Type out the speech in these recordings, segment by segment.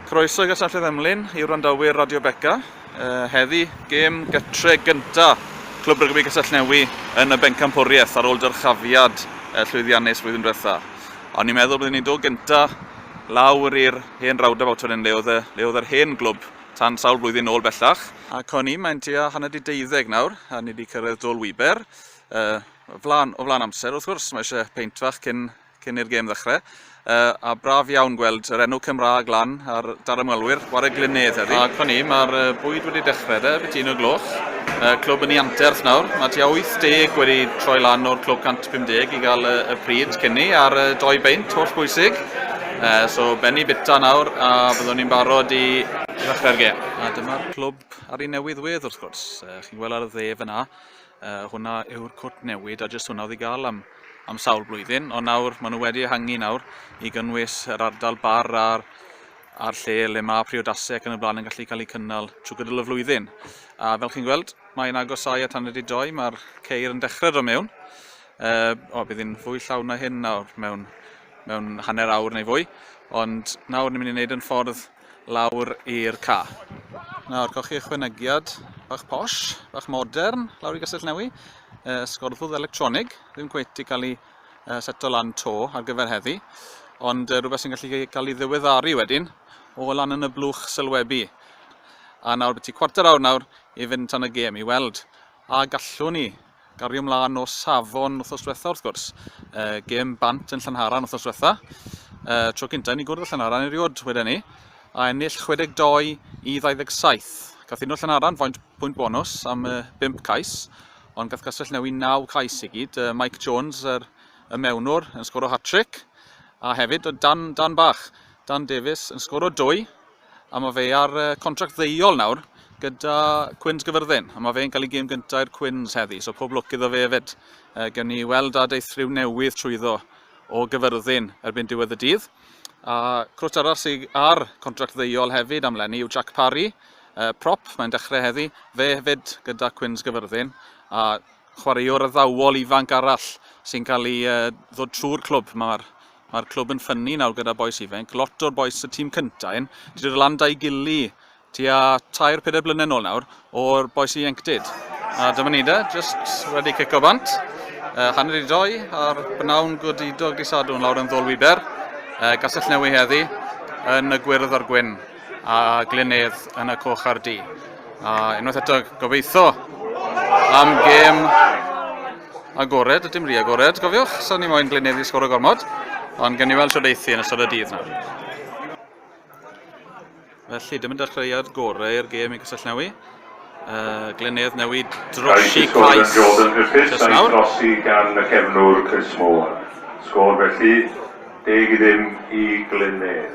Croeso i Gastell Ddemlin i wrandawyr Radio Beca. Uh, heddi, gêm gytre gynta Clwb Rygbi Castellnewi yn y Bencampwriaeth ar ôl dyrchafiad uh, llwyddiannus flwyddyn diwetha. O'n i'n meddwl byddwn ni'n dod gynta lawr i'r hen rawdaf awtor yn leodd, leodd yr hen glwb tan sawl blwyddyn ôl bellach. Ac o'n i, mae'n tua hanner di deuddeg nawr, a ni wedi cyrraedd Dol Wiber. Yy, o flan, o flan amser, wrth gwrs, mae eisiau peint fach cyn, cyn i'r gêm ddechrau. Yy, a braf iawn gweld yr enw Cymraeg lan ar dar ymwelwyr, war y glynedd heddi. Ac fan ni, mae'r bwyd wedi dechrau de, beth un o gloch. Yy, clwb yn ei anterth nawr, mae tua 80 wedi troi lan o'r clwb 150 i gael y, y pryd cyn ni, a'r yy, doi beint holl bwysig. Uh, so benni bita nawr a byddwn ni'n barod i ddechrau'r gêm. A dyma'r clwb ar ei newydd wedd wrth gwrs. Uh, chi'n gweld ar y dde fyna. Uh, hwnna yw'r cwt newid a jyst hwnna oedd i gael am, am sawl blwyddyn. Ond nawr, maen nhw wedi ehangu nawr i gynnwys yr ardal bar a'r, a'r lle le mae priodasau ac yn y blaen yn gallu cael eu cynnal trwy gydol y flwyddyn. A fel chi'n gweld, mae'n agosau at anryd i doi, mae'r ceir yn dechrau dro mewn. Uh, o, bydd hi'n fwy llawn na hyn nawr mewn, mewn hanner awr neu fwy. Ond nawr ni'n mynd i wneud yn ffordd lawr i'r ca. Nawr, cewch chi ychwanegiad bach posh, bach modern, lawr i Gastell Newi. Uh, sgorddwdd electronig, ddim cweith i cael ei uh, seto lan to ar gyfer heddi, ond uh, rhywbeth sy'n gallu cael ei ddiweddaru wedyn o lan yn y blwch sylwebu. A nawr beth i cwarter awr nawr i fynd tan y gêm i weld a gallwn ni Gario mlaen o safon wrthos diwetha wrth gwrs. E, gêm bant yn Llanharan wrthos diwetha. E, tro cyntaf ni gwrdd y Llanharan erioed wedyn ni. A ennill 62 i 27. Gath un o Llanharan faint pwynt bonus am y 5 cais. Ond gath Castell Newi 9 cais i gyd. E, Mike Jones, yr, y mewnwr, yn sgoro hat-trick. A hefyd, Dan, Dan Bach, Dan Davies, yn sgoro dwy. A mae fe ar contract ddeiol nawr gyda Cwins Gyfyrddin. A mae fe'n cael ei gêm gyntaf i'r Cwins heddi, so pob lwc iddo fe hefyd. E, gen ni weld a deithryw newydd trwyddo o Gyfyrddin erbyn diwedd y dydd. A crwt arall sydd ar contract ddeiol hefyd am Lenny yw Jack Parry, e, prop, mae'n dechrau heddi, fe hefyd gyda Cwins Gyfyrddin. A chwaraewr addawol ifanc arall sy'n cael ei e, ddod trwy'r clwb. Mae'r Mae'r clwb yn ffynnu nawr gyda bois ifenc. Lot o'r bois y tîm cynta un, wedi dod lan da'i gili tua tair, pedair blynedd nôl nawr, o'r bois i enctid. A dyma ni da, just wedi cico bant. Uh, hanner i doi ar bnawn godidog di sadwn lawr yn ddol wiber. Uh, gasell newi heddi yn y gwyrdd a'r gwyn a glynedd yn y coch a'r di. A unwaith eto gobeithio am gêm Agored, a dim rhi agored, gofiwch, so ni moyn Glynedd i sgoro gormod, ond gen i weld siwr eithi yn ystod y dydd nawr. Felly, dim yn dechreuad gorau i'r gêm i Cysyllnewi. Uh, Glynedd newid drosi Cais. Jordan Griffiths a'i drosi gan y cefnwr Chris Moore. Sgôr felly, deg i ddim i Glynedd.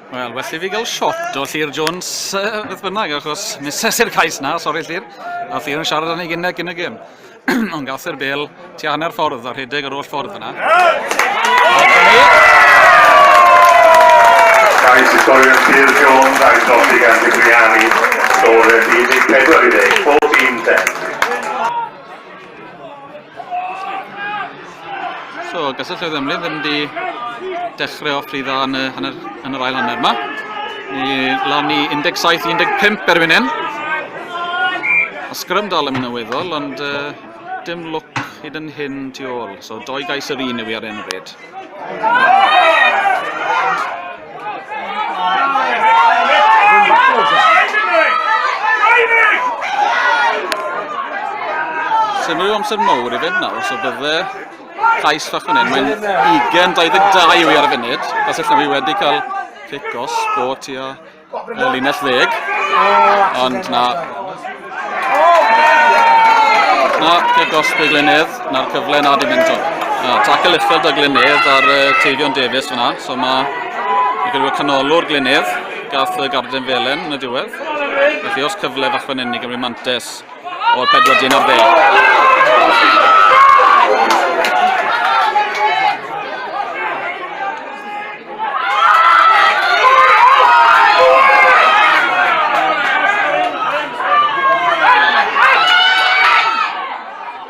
Wel, well i fi gael shot o Llyr Jones uh, beth bynnag, achos mises i'r cais na, sori Llyr. A Llyr yn siarad â ni gynnau cyn y gym. Ond gath i'r bel ti hanner ffordd a rhedeg yr oll ffordd yna. Cais i sgorio Llyr Jones a'i dodi gan Digriani. Sgorio 14 i ddeg, 14 10. So, gysylltwyd ymlid yn di dechrau o ffrydda yn, y, yn, yr, yn yr ail hanner yma. Ni lan i 17-15 erbyn hyn. A sgrym dal yn mynd yn weddol, ond uh, dim lwc hyd yn hyn tu ôl. So, doi gais yr un yw i ar un bryd. Symud amser mawr i fynd nawr, so bydde llais fach fan hyn. Mae'n 22 yw i ar y funud. Os ydych chi wedi cael cic os bod ti a y linell ddeg, ond na... Na, lle gosb y Glenedd, na'r cyfle na di mynd o. Na, tackle uchel y Glenedd ar uh, Teifion Davies fyna, so mae gyda canolwr Glenedd, gath y Garden Felen yn y diwedd. Felly os cyfle fach fan hyn i Gymru Mantes, o'r pedwar dyn ar ddeg.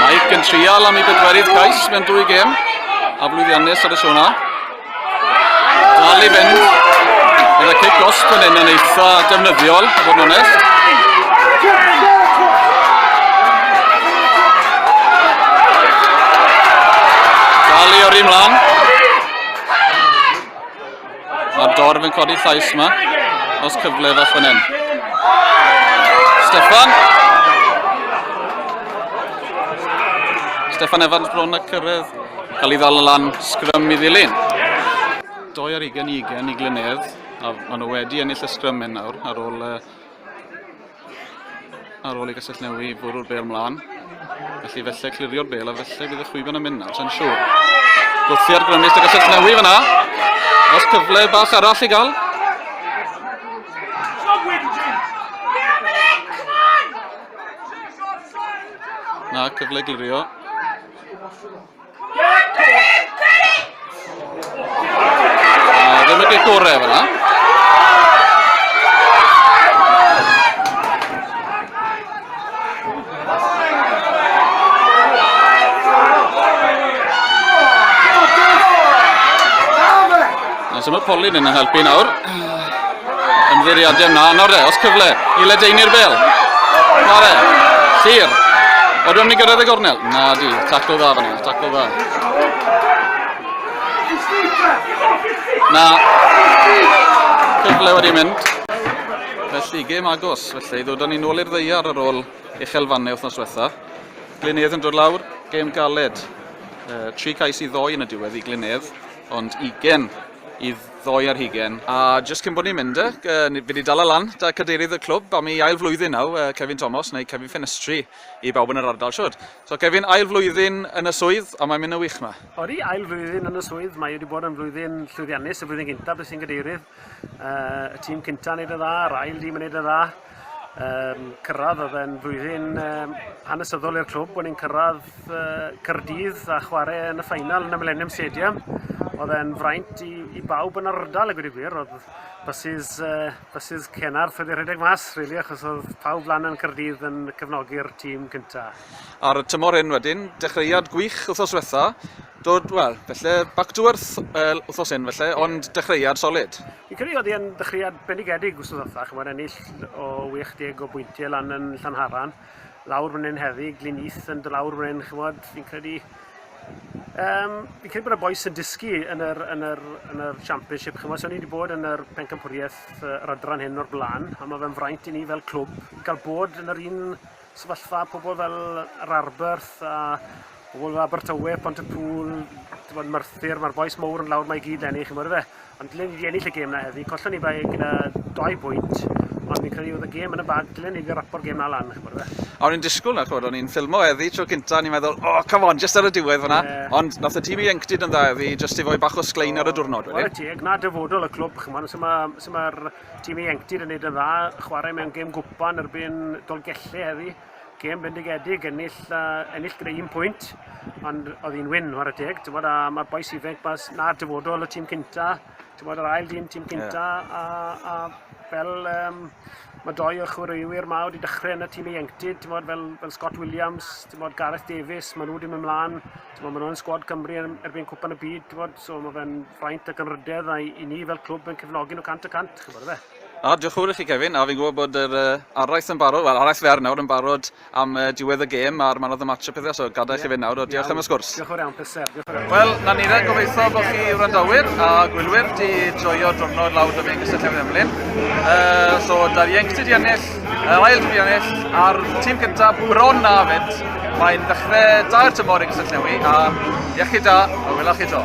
Mike yn trial am i bedwerydd cais mewn dwy gem a blwyddiannus ar y siwna. Dal i fynd. Gyda cic os fan hyn yn eitha defnyddiol, a bod yn onest. Dal i o'r un mlaen. A'r dorf yn codi llais yma. Os cyfle fach fan hyn. Stefan. Stefan Evans bron a cyrraedd. Cael ei ddal yn lan sgrym i ddilyn. Doi ar ugen i ugen i Glynedd. A maen nhw wedi ennill y sgrym hyn nawr ar ôl uh, Ar ôl i Gastellnewi fwrw'r bel mlaen, felly felly clirio'r bel a felly bydd y chwiban yn mynd nawr, sa'n siŵr. Gwrthi ar grymus y Gastellnewi fyna. Os cyfle bach arall i gael. Na, cyfle glirio. Ddim yn gorau efo na. Os yma Polin yn helpu nawr. Yn fwriad yna, nawr de, os cyfle i ledeini'r bel. Mare, sir. Oedden ni'n gyrraedd y gornel? Na di, taclo dda fan hyn, taclo dda. Na, cyfle wedi mynd. Felly, gêm agos, felly, ddod â ni'n ôl i'r ddeiar ar ôl uchelfannau wythnos diwetha. Glynedd yn dod lawr, gêm galed. Uh, tri cais i ddoi yn y diwedd i Glynedd, ond 20 i ddoe ar hugain, a jyst cyn bod ni'n mynd de, fi wedi dala lan 'da cadeirydd y clwb am ei ail flwyddyn nawr, Cefin Tomos, neu Cefin Ffenestri i bawb yn yr ardal siwr. So Cefin, ail flwyddyn yn y swydd, a mae'n mynd yn wych 'ma. Odi, ail flwyddyn yn y swydd, mae wedi bod yn flwyddyn llwyddiannus, y flwyddyn gyntaf, beth sy'n gadeirydd, y tîm cyntaf yn neud yn dda, yr ail dîm yn neud yn dda, Um, cyrraedd oedd e'n flwyddyn um, hanesyddol i'r clwb, bod ni'n cyrraedd uh, Cyrdydd a chwarae yn y ffeinal yn y Millennium Stadium. Oedd e'n fraint i, i bawb yn yr ardal, y gwir i gwir. Oedd bysydd, uh, bysydd Cenarth wedi rhedeg mas, really, achos oedd pawb lan yn Cyrdydd yn cefnogi'r tîm cyntaf. Ar y tymor hyn wedyn, dechreuad gwych wythnos diwetha, dod, wel, felly, back to earth uh, wythnos hyn felly, ond dechreuad solid. Fi'n credu oedd e'n ddechreuad bendigedig wrth ddothach, chymod, ennill o 80 o bwyntiau lan yn Llanharan, lawr fan hyn heddi, Glyn Eith yn dod lawr fan hyn, chymod, fi'n credu... Um, fi'n credu bod y boes yn dysgu yn yr, yn yr, yn yr Championship, chymod, so ni wedi bod yn yr pencampwriaeth yr adran hyn o'r blaen, a mae fe'n fraint i ni fel clwb i gael bod yn yr un sefyllfa pobl fel yr Arberth a pobl fel Abertawe, Pont y Pŵl, bod Merthyr, mae'r boes mowr yn lawr mae gyd lenni, chi'n mwyn fe. Ond dylen ni wedi ennill y gêm na heddi, collon ni bai gyda doi bwynt, ond fi'n credu oedd y gêm yn y bag, dylen ni wedi rapo'r gêm na lan, chi'n mwyn fe. O'n i'n disgwyl na, chwrdd, o'n i'n ffilmo heddi tro cynta, o'n i'n meddwl, o, oh, come on, just ar y diwedd fyna. Yeah. Ond nath y tîm i enctid yn dda heddi, just i fwy bach o sglein oh, ar y diwrnod wedyn. Wel, teg, na dyfodol y clwb, chi'n mwyn, sy'n mae'r Tîm ieuenctid yn neud yn dda, chwarae mewn gêm gwpan erbyn Dolgelli heddi. Gêm bendigedig, ennill, uh, ennill gyda un pwynt, ond oedd hi'n wyn, ar y teg. Ti'n bod, a mae'r boes ifanc mas na'r dyfodol y tîm cynta, ti'n bod, yr ail dîm tîm cynta, yeah. a, a fel um, mae doi o'r chwaraewyr ma wedi dechrau yn y tîm ieuenctid, ti'n bod, fel, fel Scott Williams, ti'n bod, Gareth Davies, maen nhw wedi mynd mlaen, Timod, maen nhw'n sgwad Cymru yn erbyn cwpan y byd, timod, so mae fe'n ffraint ac anrhydedd a i ni fel clwb yn cefnogi nhw cant y cant, chi'n gwybod, efe? A, diolch yn fawr i chi, Kevin, a fi'n gwybod bod yr uh, araith yn barod, wel, araith fer nawr yn barod am uh, diwedd y gêm a'r man of the match a pethau, so gadael yeah. chi fynd nawr, o, diolch iawn. am y sgwrs. Diolch yn fawr iawn, pleser. Wel, na ni rhaid gobeithio bod chi wrandawyr a gwylwyr di joio diwrnod lawr dyfyn gysylltiad Emlyn. Uh, so, da ieuenctid i ennill Yn ail dwi ennill a'r tîm cyntaf bron na fynd. Mae'n dechrau dair tymor i Gysylltu Newi a iechyd da a wylach chi to.